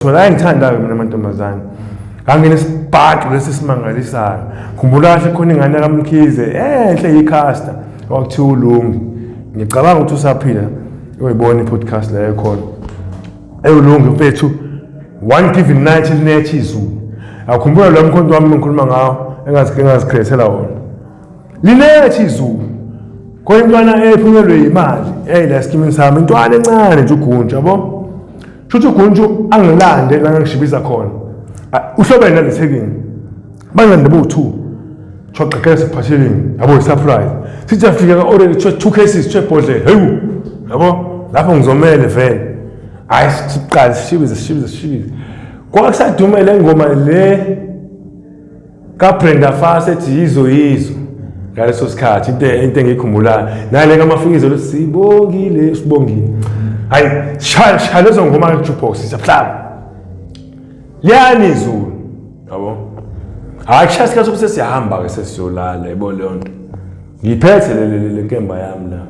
Ngithola ayengithandayo mina mantombazane. Ngangena isibhaxu lesi simangalisayo. Khumbula kahle khona ingane kaMkhize enhle iCaster wakuthiwa uLungi. Ngicabanga ukuthi usaphila uyibona i-podcast leyo khona. Ewulungi mfethu one given night linethi izulu. Akhumbula lo mkhonto wami ngikhuluma ngawo engazikhethela wona. Linethi izulu. Khona intwana ephunyelwe imali. Hey la skimini sami intwana encane nje ugunja yabo. Shuthi uGunju angilande la ngishibiza khona. Ah, Uhlobene nalethekini. Bangilande bo-2. Kuthiwa qaqeka siphatheleni. Yabo i-surprise. Sithi afika ka-orange kuthiwa two cases kuthiwa ibhodlela. Hewu. Yabo lapho ngizomele vele. Hayi siqale sishibize sishibize sishibize. Kwakusadumela ingoma le kaBrenda Fassie ethi yizo yizo ngaleso sikhathi into into engiyikhumbulayo nale kamafikizo lo sibongile sibongile hayi shaya shaya lezo ngoma jukebox siyahlaba liyani izulu yabo hayi kushaya sikhathi sokuthi siyahamba ke sesiyolala yebo leyo nto ngiphethe le le le nkemba yami la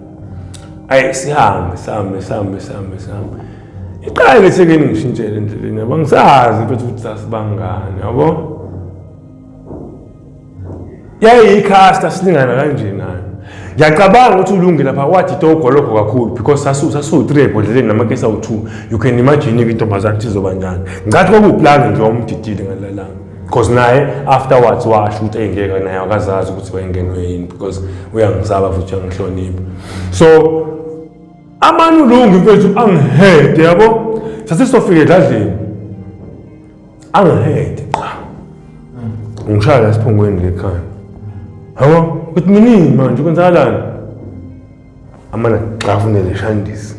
ayi sihambe sihambe sihambe sihambe sihambe iqala ngithi ke ngishintshele endleleni yabo ngisazi mfethu ukuthi sasibangani yabo yayiyikhasta silingana kanje nayo ngiyacabanga ukuthi ulunge lapha wathi togwa lokho kakhulu because sasiwu-three ebhodleleni namakesi awu-two you can imagine-ke intombazane ukuthi izoba njani ngathi kwakuwuplani nje wawumdidile ngalelanga because naye afterwards washo ukuthi eyingeke naye akazazi ukuthi wayengenwe yini because uyangisaba futhi uyangihlonipha so amanulungu mfethu angihede yabo sasisofika edladleni angihede qha ngishaya la siphongweni lekhaya yabo ukuthi minini manje kwenzakalani amana ngixafune le shandisi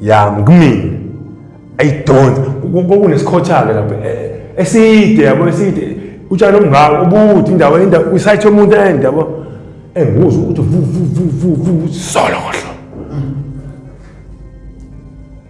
yami kumina ayidonsa kokunesikhothake lapho eh, eh, eside yabo eside utshani obungaka ubuthi indawo indawo kwisayithe umuntu ende yabo engikuzwa ukuthi vu vu vu vu vu solo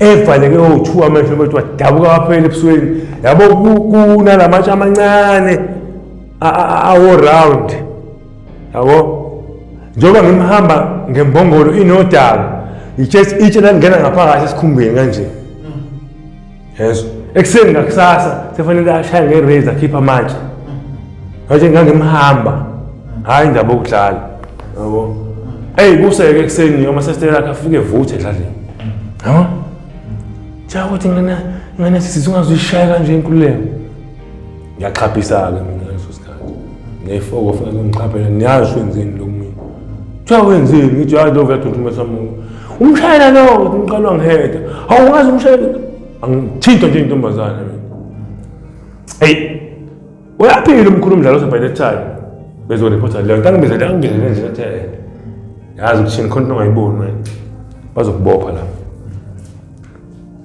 evaleke owu-two amehlo bethu wadabuka waphela ebusweni yabo kunala matshe amancane awo-round yabo njengoba ngimhamba ngembongolo inodaka itshe langena ngaphakathi esikhumbeni kanje yezo ekuseni ngakusasa sefanele ashaye nge-raise akhiphe amatshe ngatshe ngangimhamba hhayi ndaba okudlala yabo eyi kuseke ekuseni uma sesitela akhe afike evuthe edlaleni yabo cha ukuthi ngane ngane sisi ungazuyishaya kanje inkululeko ngiyaxhaphisa-ke mina ngaleso sikhathi ngiyayifoko funa ngixhaphele ngiyazi wenzeni lo mina kuthiwa wenzeni ngithi hayi lo uyathunthumesa muntu umshayela lo ukuthi ngiqalwa ngiheda hawu ungazi umshayela angithintwa nje intombazane mina eyi uyaphila umkhulu umdlalo ose by that time bezorephotha leyo nto angibizele angibizele nje athe yazi ukuthi khona into ongayiboni wena bazokubopha lapho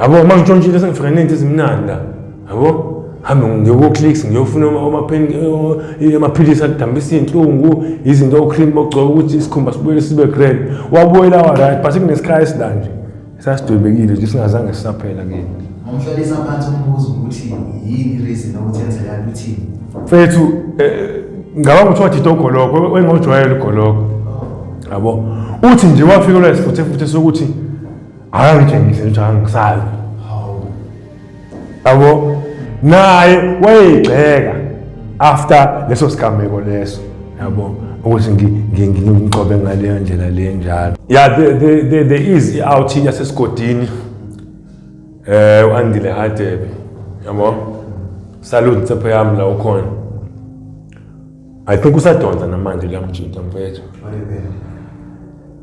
Yabo uma ngishontshile sengifika nento ezimnandi la. Yabo? hambe ngiyokoclicks ngiyofuna eh, amaphilisi adambisa iy'nhlungu izinto ocream bogcoba ukuthi isikhumba sibuyele sibe grand wabuyela wa-right but kunesikhayi esila nje sasidwebekile nje singazange sisaphela kini ngomhlalisa phansi umbuzo ukuthi yini reason ukuthi enzeka ukuthi mfethu eh, ngaba ukuthi wathitha ugoloko wengojwayela ugoloko yabo uthi nje wafikelwa isifuthefuthe sokuthi akangitshengise ukuthi angisazi yabo naye wayeyigxeka after leso sigameko leso yabo ukuthi ngimgcobe ngaleyo ndlela le njalo ya there is i-out yasesigodini um u-andile hadebe yabo salute nsepho yami la ukhona I think usadonsa namanje kuyamjinta mfethu.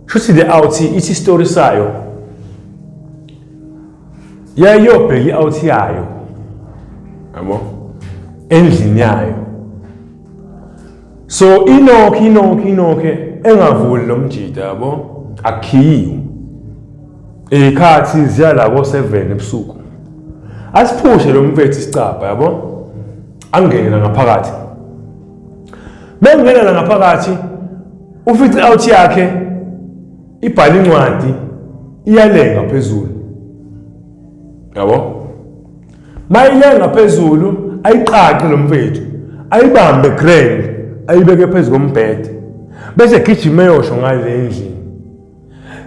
Shuthi le out ithi story sayo. Yayobheka i-out yayo. Yabo? Endlini yayo. So inokhe inokhe inokhe engavuli lo mjita yabo akhiyiwe. Ikhathi ziyala ko 7 ebusuku. Asiphushe lo mfethu isicabha yabo? angene nangaphakathi mengena nangaphakathi ufice out yakhe ibhala incwadi iyalenga phezulu yabo mayilenga phezulu ayiqaqe lo mfethu ayibambe grand ayibeke phezu kombhede bese gijima eyosho ngale endlini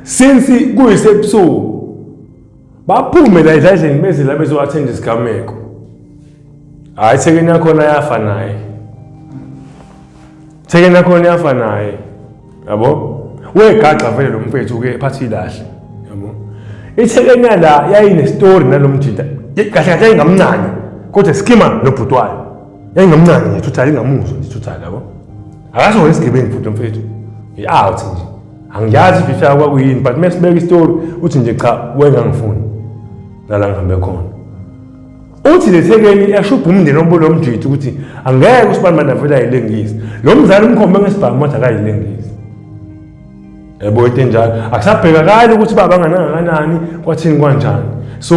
since kuyisebusuku baphume la ezandleni beze la bezowathenda isigameko hhayi thekeni yakhona yafa naye thekeni yakhona yafa naye yabo wegaxa vele lo mfethu ke phathi ilahle yabo ithekeni yala yayinestori nalo mjita kahle kahle yayingamncane kodwa skima nobhuti wayo yayingamncane nje thuthala ingamuzwa nje thuthala yabo akazi wona isigebengu futhi lo mfethu i-out nje angiyazi ukuthi ushaya kwakuyini but uma sibeka isitori uthi nje cha wengangifuni lala ngihambe khona uthi lethekeni yashubha umndeni obulo mjithu ukuthi angeke usibanibani avele ayilengisi lo mzali umkhombe ngesibhamu wathi akayilengisi yabo into enjalo akusabhekakali ukuthi baba nganangakanani kwathini kwanjani so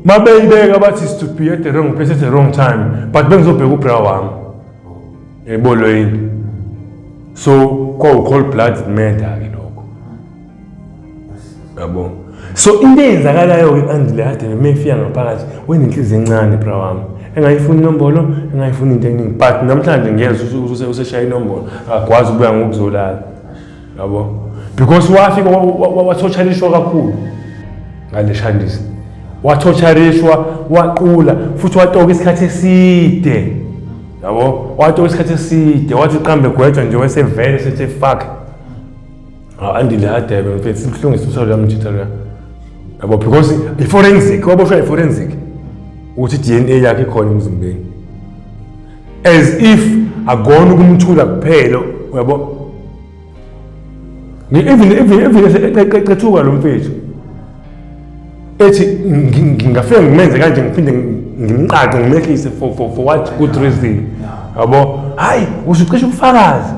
mabeyibeka bathi is to be at the wrong place at the wrong time but bengizobheka ubra wami ebolwe yini so kwawu-cold blood murder-ke lokho yabo so into eyenzakalayo-ke kandile kade uma efika ngaphakathi wenenhliziyo encane bra wami engayifuni inombolo engayifuni into eningi but namhlanje ngiyezwa useshaya inombolo akakwazi ukubuya ngokuzolala yabo because wafika wathotshalishwa kakhulu ngale shandisi wathotshalishwa waqula futhi watoka isikhathi eside yabo wathi wesikhathi eside wathi qambe gwetshwa nje wesevele sithi fuck andile adebe mfethu sibuhlungisa usalo yamjitha loya yabo because i-forensic waboshwa i-forensic ukuthi i-dna yakhe ikhona emzimbeni as if akona ukumthula kuphela uyabo even even even eqethuka lo mfethu ethi ngingafike ngimenze kanje ngiphinde ngimqaqe ngimehlise for for for what good reason yabo hayi usucisha ubufakazi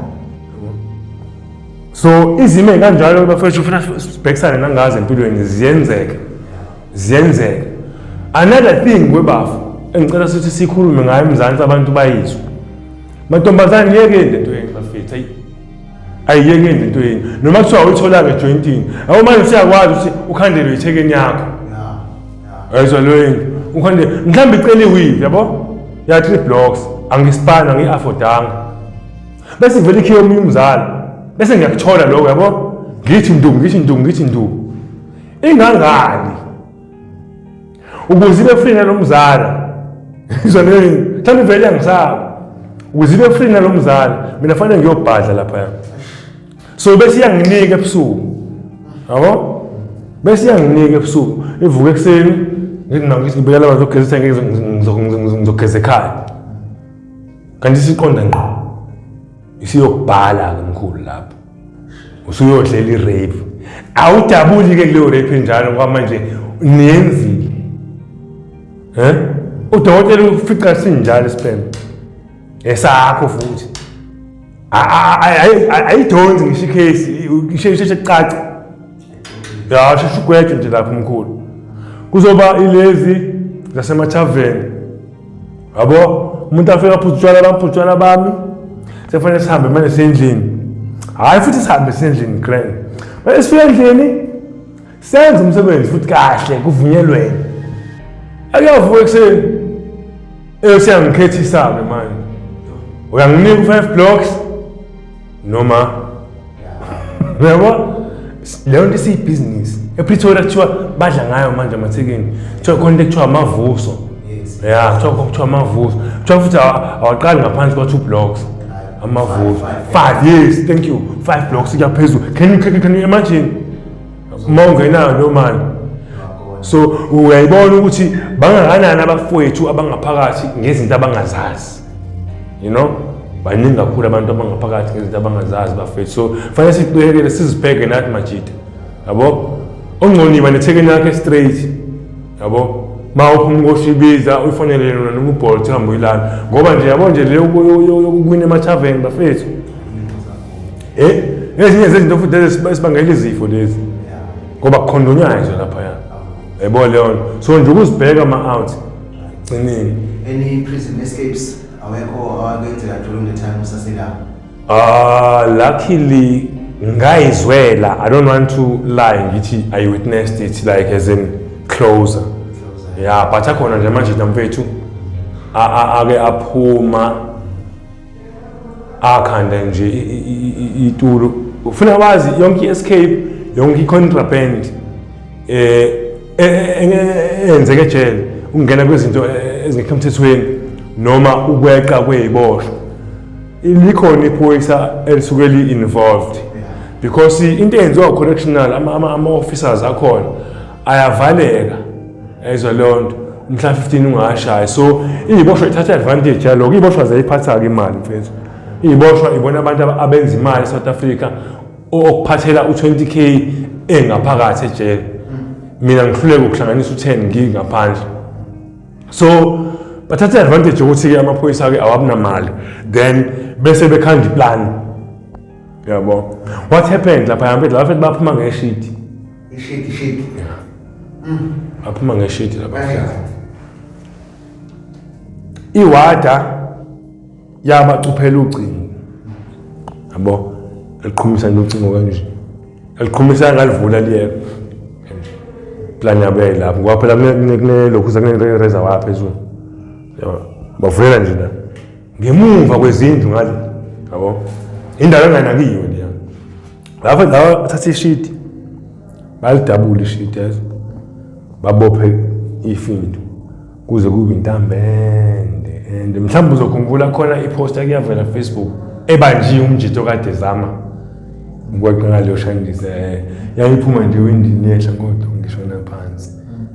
so izimo ezikanjalo bafethu ufuna sibhekisane nangazi empilweni ziyenzeka ziyenzeka another thing kwebafu engicela sithi sikhulume ngayo emzansi abantu bayizwe mantombazane yeke into yenu bafethu ayi ayiyekeni into yenu noma kuthiwa uyitholanga ejointini awu manje siyakwazi ukuthi ukhandelwe ithekeni yakho ayizwa loyini ukhande mhlawumbe icela iwivi yabo ya three blocks angisipani angiyi-afodanga bese ngivele ikhiye omunye umzali bese ngiyakuthola lokho yabo ngithi ndu ngithi ndu ngithi ndu ingangani ukuze ibe free nalo mzala ngizwa leyo mhlawumbe ivele yangisaba ukuze ibe free nalo mzala mina fanele ngiyobhadla laphaya so bese iyanginika ebusuku yabo bese iyanginika ebusuku ivuka ekuseni ngibekela abantu ogezisa ngizogeza ekhaya kanti isiqonda ngqo isiyokubhala-ke mkhulu lapho usuyodlela i-rape awudabuli-ke kuleyo rape enjalo ngoba manje niyenzile um udokotela ufica sinjalo isibhema esakho futhi ayidonsi ngisho ikhesi isheshe kucaca ya sheshe ugwetshe nje lapho mkhulu kuzoba ilezi zasemathaveni yabo umuntu afika aphuza utshwala baphuza utshwala bami sekufanele sihambe manje sendlini hhayi futhi sihambe sendlini grand manje sifika endlini senze umsebenzi futhi kahle kuvunyelwene akuyavuka ekuseni eyoseyangikhethisa-ke manje uyanginika u-five blocks noma uyabo leyo nto isiyibhizinisi epretoria kuthiwa badla ngayo manje amathekeni kuthiwa khona into ekuthiwa amavuso ya kuthiwa kuthiwa amavuso kuthiwa futhi awa- awaqali ngaphansi kwa-two blocks amavuso five yes thank you five blocks kuyaphezulu can you can you- can you imagine uma ungenayo leyo mali so uyayibona ukuthi bangakanani abafowethu abangaphakathi ngezinto abangazazi you know baningi kakhulu abantu abangaphakathi ngezinto abangazazi bafethu so kufanele siqikekele sizibheke nathi majita yabo ongconiba nethekeni yakhe straight yabo ma uphuma ukoshibiza uyifonele yona noma ubholt uhambe uyilana ngoba nje yabo nje le yokuwina emathaveni bafethu Eh, ezinye zezinto futhi esibangela izifo lezi. Ngoba kukhondonywa nje lapha ya. Yebo leyo. So nje ukuzibheka ama out. Gcinile. Any prison escapes awekho awakenzeka during the time usaselapha. Ah, luckily ngayizwela i don't want to lie ngithi i witnessed it like as in closer ya but akhona nje manje namfethu ake aphuma akhanda nje itulo ufuna wazi yonke i-escape yonke i-contraband eh enzeke ejele ukungena kwezinto ezingekho emthethweni noma ukweqa kweyiboshwa likhona iphoyisa elisuke li-involved because into eyenziwa correctional ama-officers akhona ayavaleka ayizwa leyo nto mhla 15 ungashaya so iyiboshwa ithatha advantage yaloko iyiboshwa zayiphatha-ke imali mfethu iyiboshwa ibona abantu abenza imali e-south africa okuphathela u-20 k engaphakathi ejele mina ngihluleke ukuhlanganisa u-10 ngingaphandle so bathatha i-advantage yokuthi-ke amaphoyisa-ke awabunamali then bese bekhanda iplani yabo what happened lapha yampethu lapha baphuma ngeshidi Ishidi ishidi. Yeah. Mm. Aphuma ngeshidi lapha. Iwada yabacuphela ucingo. Yabo eliqhumisa nocingo kanje. Eliqhumisa ngalivula liyeka. Plan yabo yayilapho. Ngoba phela kune lokhu sakune razor wa phezulu. Yabo bavulela nje la. Ngemuva kwezindlu ngale. Yabo. Indawo enganakiwe. ngapha ngathatha ishidi balidabula ishidi yazi babophe ifindo kuze kube intambende and mhlawumbe uzokhumbula khona iposta kuyavela facebook ebanjiwe umjito kade zama ngikwaqala leyo shandise eh, yayiphuma nje windini yehla kodwa ngishona phansi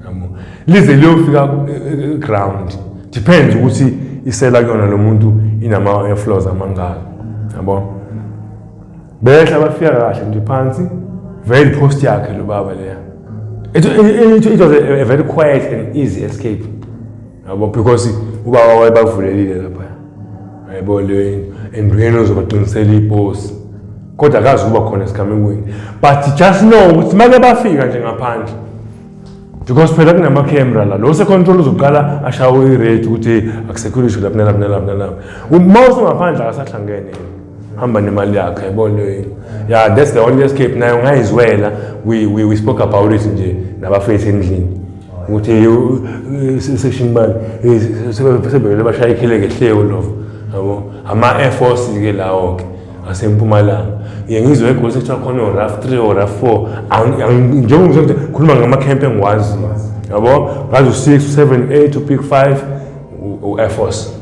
yabo lize liyofika ground depends ukuthi isela kuyona lo muntu inama-flows amangaka yabo Behla bafika kahle nje phansi very post yakhe lo baba leya. It, it, it was a, a very quiet and easy escape. Yabo because ubaba wayebavulelile lapha. Yabo le endweni ozobaqinisela ipost. Kodwa akazi ukuba khona esigamekweni. But just know ukuthi make bafika nje ngaphandle. because phela kunama-camera la lo secontrol uzoqala ashawo irate ukuthi akusekho ishu lapho nalapho nalapho nalapho uma usungaphandle akasahlangene hamba nemali yakhe yabona yini ya that's the only escape nayo ngayizwela we, we, we spoke about it nje nabafethu endlini ukuthi section bani sebevele bashaya ikheleke hleyo lova yabo ama-air force-ke lawo-ke ngasempumalanga ngiye ngizwe egosi kuthiwa khona oraf three oraf four njengokuthi ngikhuluma ngamakhempe engiwaziyo yabo ngazi u-six u-seven eight u-pick five u-air force